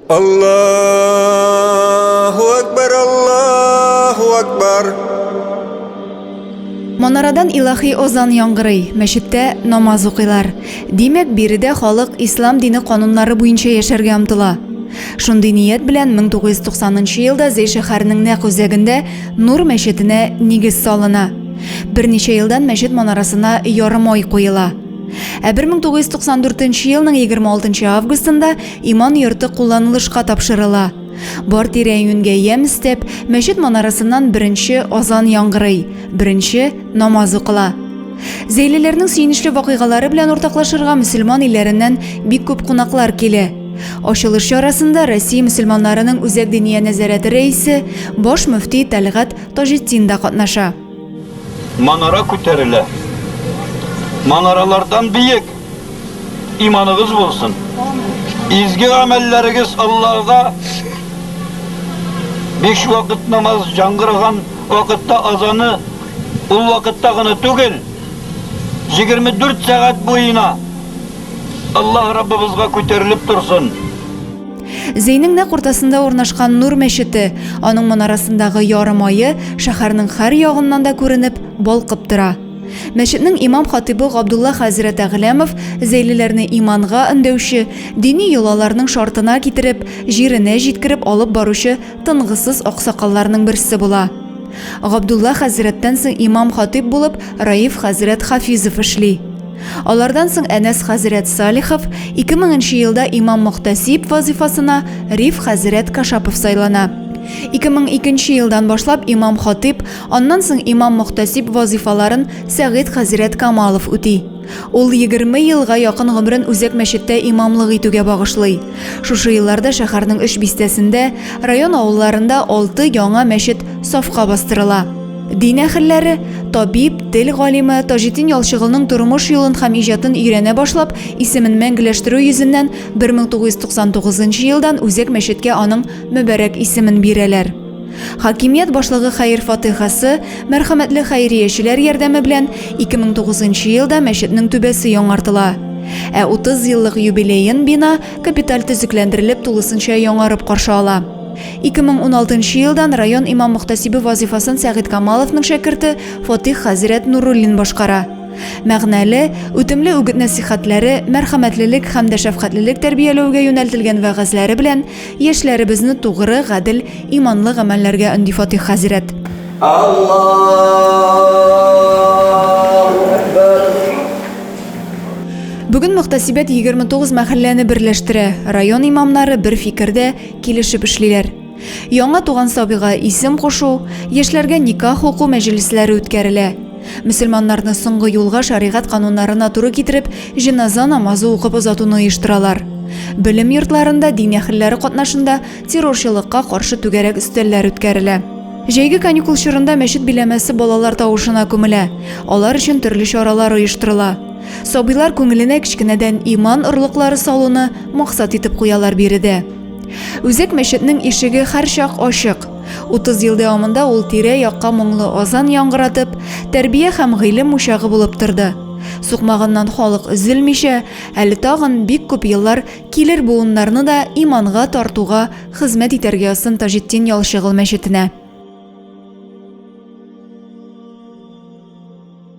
Аллаху Акбар, Аллаху Акбар. Монарадан илахи озан яңгырый, мәчеттә намаз укыйлар. Димәк, биредә халык ислам дине кануннары буенча яшәргә омтыла. Шундый ният белән 1990 елда Зәй шәһәренең нәкъ үзәгендә Нур мәчетенә нигез салына. Берничә елдан мәчет манарасына ярым ай куела. Ә 1994 елның 26 августында иман йорты кулланылышка тапшырыла. Бар тирә-юньгә ямь өстәп, мәчет манарасыннан беренче азан яңгырый, беренче намаз укыла. Зәйлеләрнең сөенечле вакыйгалары белән уртаклашырга мөселман илләреннән бик күп кунаклар килә. Ачылыш чарасында Россия мөселманнарының үзәк диния нәзарәте рәисе, баш мөфти Тәлгать Таҗетдин да катнаша. Манара күтәрелә. Манаралардан биек! Иманыгыз булсын! Изге гамәлләрегез Аллага биш вакыт намаз яңгыраган вакытта азаны ул вакытта гына түгел, җигерме дүрт сәгать буена Аллаһ Раббыбызга күтәрелеп торсын! Зейнең нәкъ уртасында урнашкан Нур мәчете, аның манарасындагы ярым ае шәһәрнең һәр ягыннан да күренеп, балкып тора. Мәчетнең имам-хатыйбы Габдулла хәзрәт Әгъләмов зәйлеләрне иманга өндәүче, дини йолаларның шартына китереп, җиренә җиткереп алып баручы тынгысыз аксакалларның берсе була. Габдулла хәзрәттән соң имам-хатыйб булып Раиф хәзрәт Хафизов эшли. Алардан соң Әнәс хәзрәт Салихов, 2000 нче елда имам-мөхтәсиб вазыйфасына Риф хәзрәт Кашапов сайлана. 2002 нче елдан башлап имам-хатыйб, аннан соң имам-мөхтәсиб вазыйфаларын Сәгыйть хәзрәт Камалов үти. Ул егерме елга якын гомерен үзәк мәчеттә имамлык итүгә багышлый. Шушы елларда шәһәрнең өч бистәсендә, район авылларында алты яңа мәчет сафка бастырыла. Дин әхелләре, табиб, тел галиме Таҗетдин Ялчыгылның тормыш юлын һәм иҗатын өйрәнә башлап, исемен мәңгеләштерү йөзеннән 1999 елдан үзәк мәчеткә аның мөбарәк исемен бирәләр. Хакимият башлыгы хәер фатыйхасы, мәрхәмәтле хәйриячеләр ярдәме белән 2009 елда мәчетнең түбәсе яңартыла. Ә 30 еллык юбилеен бина капиталь төзекләндерелеп тулысынча яңарып каршы ала. 2016 нчы елдан район имам-мөхтәсибе вазыйфасын Сәгыйть Камаловның шәкерте Фатих хәзрәт Нуруллин башкара. Мәгънәле, үтемле үгет-нәсыйхәтләре, мәрхәмәтлелек һәм дә шәфкатьлелек тәрбияләүгә юнәлтелгән вәгазьләре белән яшьләребезне тугры, гадел, иманлы гамәлләргә өнди Фатих хәзрәт. Бүген мөхтәсибәт 29 мәхәлләне берләштерә. Район имамнары бер фикердә, килешеп эшлиләр. Яңа туган сабыйга исем кушу, яшьләргә никах уку мәҗлесләре үткәрелә. Мөселманнарны соңгы юлга шәригать кануннарына туры китереп, җеназа намазы укып озатуны оештыралар. Белем йортларында дин әһелләре катнашында террорчылыкка каршы түгәрәк өстәлләр үткәрелә. Җәйге каникул чорында мәчет биләмәсе балалар тавышына күмелә, алар өчен төрле чаралар оештырыла. Сабыйлар күңеленә кечкенәдән иман орлыклары салуны максат итеп куялар биредә. Үзәк мәчетнең ишеге һәрчак ачык. 30 ел дәвамында ул тирә-якка моңлы азан яңгыратып, тәрбия һәм гыйлем учагы булып торды. Сукмагыннан халык өзелмичә, әле тагын бик күп еллар килер буыннарны да иманга тартуга хезмәт итәргә язсын Таҗетдин Ялчыгыл мәчетенә.